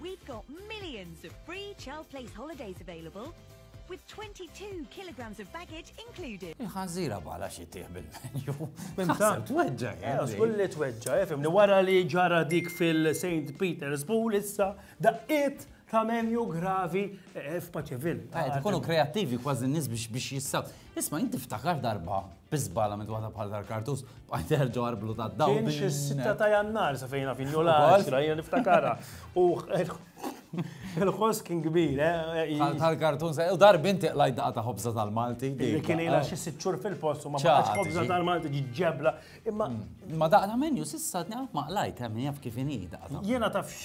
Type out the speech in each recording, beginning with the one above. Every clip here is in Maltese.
We've got millions of free child place holidays available with 22 kilograms of baggage included. Iħanżira bħala xi tieħ bil-menju. Minta. Tweġġa, Kull li tweġġa, eh, fimni wara li ġara dik fil-St. Peter's Pool issa daqqiet ta' menju gravi eh, f'Paċeville. Tkunu kreattivi kważi n-nies biex jissab. Isma' jien tiftakar darba biżbala minn waħda bħal tal-kartus bqajt terġa' arblu ta' dawn. Kien xi sitta ta' jannar sa fejna fin l-għaxra jiena niftakarha. U il-ħoss kien kbir, eh? Tal-kartun sa u darbi inti qlajt daqqa ta' ħobża tal-Malti. Kien ilha xi sitt xhur fil-post u ma baqgħetx ħobża tal-Malti ġiġġebla. Imma mm. ma daqqa ta' menju sissa tnaqaf ma qlajt hemm eh, jaf kif inhi daqqa. Jiena tafx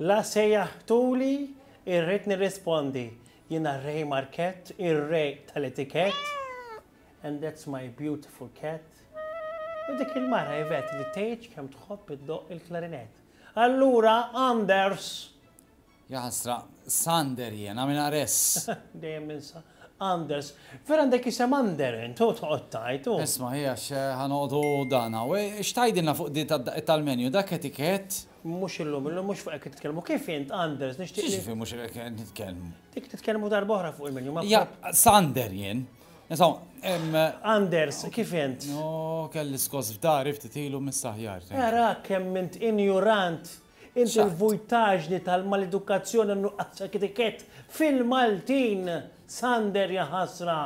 La sejjaħtuli, irrid nirrispondi, jiena Ray Markett, ir-Re tal-Etikett, and that's my beautiful cat. U dik il-mara Yvette li tgħidx kemm tħobb iddoqq il-klarinett. Allura Anders! Jaħasra, Sander jiena, minn Ares. Dejjem ninsa Anders. Vera għandek isem Ander int, u toqgħod tgħid, u. Isma' hi għax ħa noqogħdu dan hawn. X'tgħidilna fuq di tad-daqqiet tal-menu, dak etikett? Mhux illum, illum mhux fuq hekk titkellmu. Kif int, Anders, nixtieq. Kif mhux hekk titkellmu? Dik titkellmu darba oħra fuq il-menu. Ja, Sander jien. Anders, kif int? No, kelli skos f'dari ftit ilu mis-saħjar. Era kemm int injurant. Int il-vujtaġni tal-maledukazzjoni nuqqas etiket fil-Maltin. Sander jaħasra.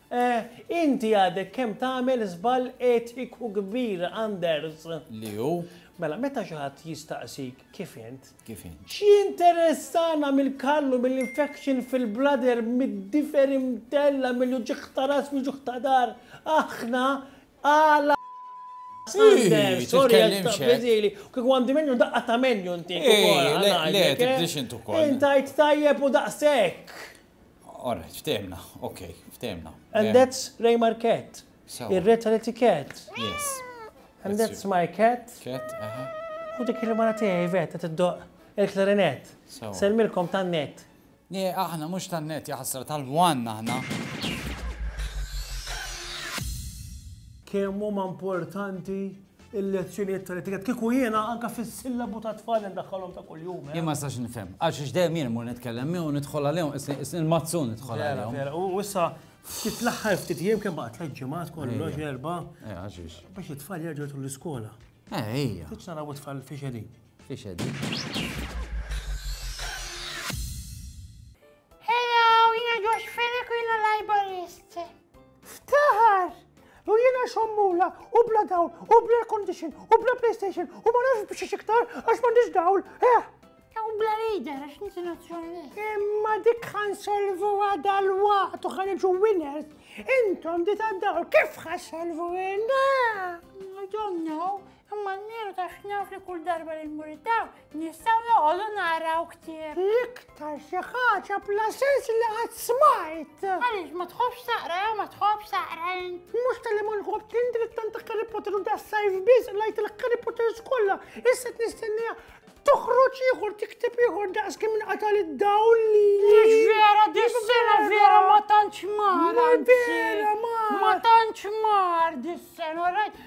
Eh, inti għadek kemm tagħmel żball etiku kbir, Anders. Li hu? Mela, meta xi ħadd jistaqsik kif int? Kif int? X'jinteressana mill-kallu, mill-infection fil-bladder, mid-difer imtella, mill-uġieħ ta' ras, mill-uġieħ ta' dar, aħna għala Anders, sorry, għazili, kik għandi menju daqqa ta' menju nti. Le, tibdix intu kol. Intajt tajjeb u daqsek. All right, ftehimna, ok, ftehimna. And that's Raymer Cat. Ir-re tal-etiket. Yes. And that's my cat. Cat, aha. U dik il-mara tiegħi vet qed iddoq il-klarinet. Selmilkom tan-net. Ne, aħna mhux tan-net jaħsra tal-wan aħna. Kemm huma importanti il-lezzjonijiet tal-etikett. Kieku jiena anka fis-sillabu ta' tfal ndaħħalhom ta' kuljum. Eh? Jien ma sax nifhem. Għax ix dejjem jien mur nitkellem miegħu nidħol għalihom il-mazzun nidħol għalihom. U issa ftit l-aħħar ftit jiem kemm baqa' tliet ġimgħat kollox erba'. Eh, għax Biex it-tfal jerġgħu l-iskola. Eh, ejja. Titx naraw it-tfal fiex qegħdin. Fiex qegħdin. Hello, jiena Josh Fenech u jiena librarist. Ftaħar! Jew jiena xommula u bla dawl u bla condition u bla PlayStation u ma nafx biex iktar għax m'għandix dawl, eh! U bla leader għax ninti nazzjonali. Imma dik ħan solvu għada l-waqt u ħan iġu winners. Intom di ta' dawl kif ħan solvu għinna? I don't know. Imma n-nieru ta' xnaf li kull darba li nmuritaw, nistaw noqogħdu naraw ktieb. L-iktar xi ħaġa bla sens li qatt smajt. Għaliex ma tħobbx taqra jew ma tħobbx taqra int. Mhux tal-li ma nħobb kien dritt tant Harry Potter u da sajf biss lajt il-Harry Potter skolla. Issa qed nistennija toħroġ ieħor tiktib ieħor daqs kemm inqatal id-dawl li. Mhux vera dis-sena vera ma tantx mar. Ma vera mar. Ma tantx mar dis-sena, rajt.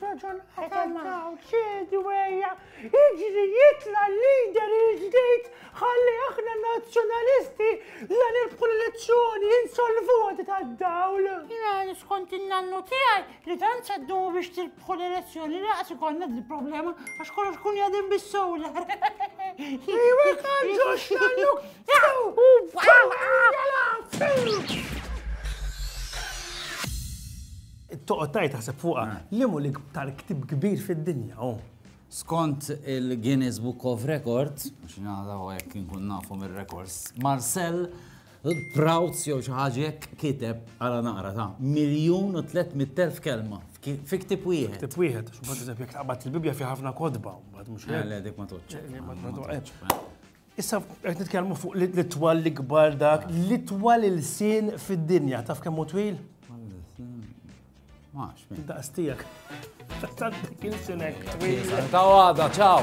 Raġun għatal maw, ċedi weja, iġri jitla l-lider il-ġdijt, ħalli aħna nazjonalisti la nirbħu l-elezzjoni, insolvu għati ta' dawl. Jina niskont il-nannu tijaj, li dan ċeddu biex tirbħu l-elezzjoni, li għasi konna di problema, għax kollox kun jadin bis-solar. Iwe kanġox nannu, Toqgħod tgħid taħseb fuqha, liem hu l-iktar ktieb kbir fid-dinja hu? Skont il-Guinness Book of Records, biex nagħda u hekk inkun nafu mir-rekords, Marcel Proutz jew xi ħaġa hekk kiteb għala naqra ta' miljun u 300,000 kelma fi ktieb wieħed. Ktieb wieħed, x'bad eżempju jekk taqbad il-Bibbja fi ħafna kodba, mbagħad mhux hekk. Le, dik ma toċċ. Ma toċċ. Issa qed nitkellmu fuq l-itwal l-ikbar dak, l-itwal il-sin fid-dinja, taf kemm twil? Max. Daqs tiegħek. Tant il-sinek twil. Ta' għada, ċaw.